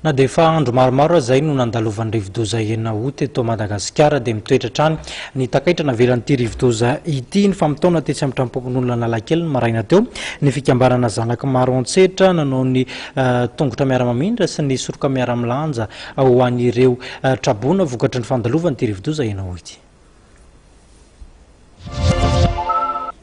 Na dia efa andro maromaro aza izay no nandalovan'ny rivodoza enina août eto Madagasikara dia mitoetra hatrany ny takaitra navelan'ity rivodoza ity. Nifampitaona tetsy amin'ny trampokon'olona Analakely ny maraina teo ny fikambanana Zanaky Maro Antsetra nanao ny tongotra miara-mamindra sy ny soroka miara-milanja ho an'ireo traboina vokatry ny fandalovan'ity rivodoza enina août ity.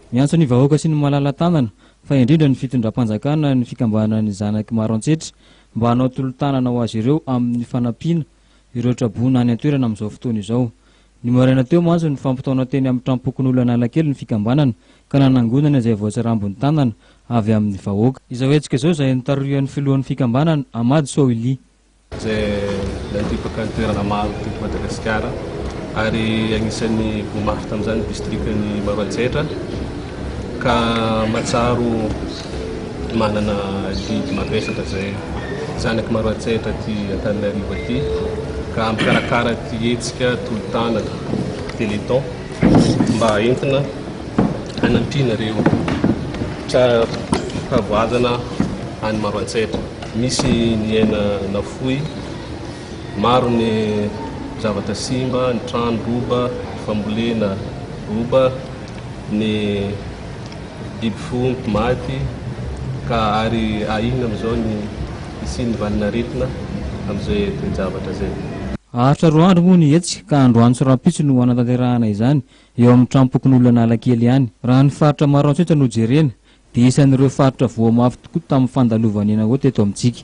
Miantso ny vahoaka sy ny malala-tanana fa indrindra ny fitondram-panjakana ny fikambanana ny zanaky maro antsetra mba hanao tolo-tanana ho azy ireo amin'ny fanampiana ireo traboina any an-toerana amin'izao fotoana izao. Ny maraina teo mantsy no fampitaona teny amin'ny tranom-pokonolona Analakely ny fikambanana ka nanangonana izay voatsarambin'ny tanana avy amin'ny vahoaka. Izao hetsika izao izay notariohan'ny filohan'ny fikambanana, Ahmad Sohili. izay nandripaka ny toerana maro teto Madagasikara ary anisan'ny voa mafy tamin'izany ny distrikan'i Maroantsetra ka mahatsiaro manana adidy mavesatra izay zanak'i Maroantsetra aty Antananarivo aty ka mikarakara ity hetsika tolo-tanana téléthon mba entina hanampiana ireo tra-pahavoazana any Maroantsetra. Nisy ny aina nafoy, maro ny zavatra simba, ny trano roba, ny fambolena roba, ny biby fiompy maty, ka ary ahiana amin'izao ny hisian'ny valin'aretina amin'izay toe-javatra izay. Haharitra roa andro moa ny hetsika ka androany sy rahampitso no hanatanterahana izany eo amin'ny tranom-pokonolona Analakely ihany. Raha ny faritra Maroantsetra no jerena dia isan'ireo faritra voa mafy tokoa tamin'ny fandalovan'ny Enawo teto amintsika.